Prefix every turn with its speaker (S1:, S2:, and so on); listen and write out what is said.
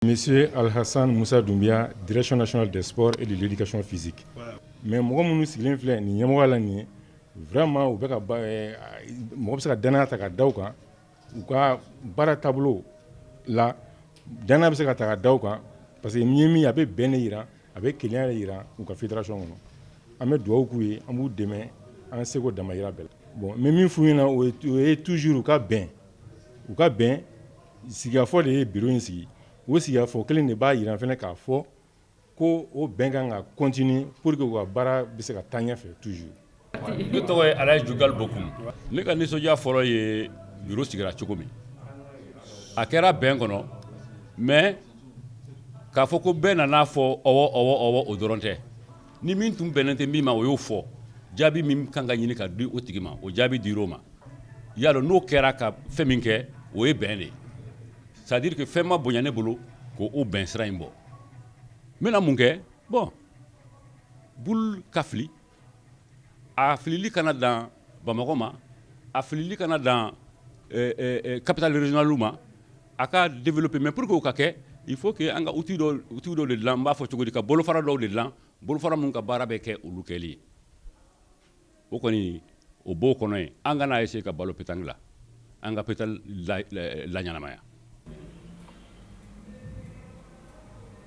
S1: Monsieur alhassan musa dunbiya direction nationale des sports et de l'éducation physique mais mɔgɔ minnu sigilen filɛ nin ɲɛmɔgɔ la nin ye vraiment u bɛ ka mɔgɔ bɛ se ka dan ta ka da kan u ka baara taabolo la an bɛ se ka ta ka da u kan parce que ɲɛ min a bɛ bɛn de jira a bɛ kelenya jira u ka fédération kɔnɔ an bɛ dugawu k'u ye an b'u dɛmɛ an seko damajira bɛɛ la bon mais min f ɲɛna o ye toujours u ka bɛn u ka bɛn sigikafɔ de ye bureau in sigi o sigikafɔ kelen de b'a jira fana k'a fɔ ko o bɛn kan ka continuer pour que u ka baara bɛ se ka taa ɲɛ fɛ toujours ne tɔgɔ ye alayi jugal bɔkum ne ka nisɔndiya fɔlɔ ye bureau sigira cogo min a kɛra bɛn kɔnɔ mais k'a fɔ ko bɛɛ nana a fɔ ɔwɔ ɔwɔ ɔwɔ o dɔrɔn tɛ Ni min tun bɛnnen tɛ min ma o y'o fɔ jaabi min kan ka ɲini ka di o tigi ma o jaabi dira o ma ya n'o kɛra ka fɛn min kɛ o ye bɛn de ye c'est-à-dire que fɛn ma bonya ne bolo ko o bɛn sira in bon n bɛna mun kɛ bon boule ka fili a filili kana dan bamakɔ ma a filili kana dan capitale régionale ma A ka développer pour que mais pour que o ka kɛ il faut que an ka outil dɔw de dilan n b'a fɔ cogo di ka bolofara dɔw de dilan bolofara minnu ka baara bɛ kɛ olu kɛli ye o kɔni o b'o kɔnɔ yen an kana essayer ka balo petanque la an ka petanque laɲɛnamaya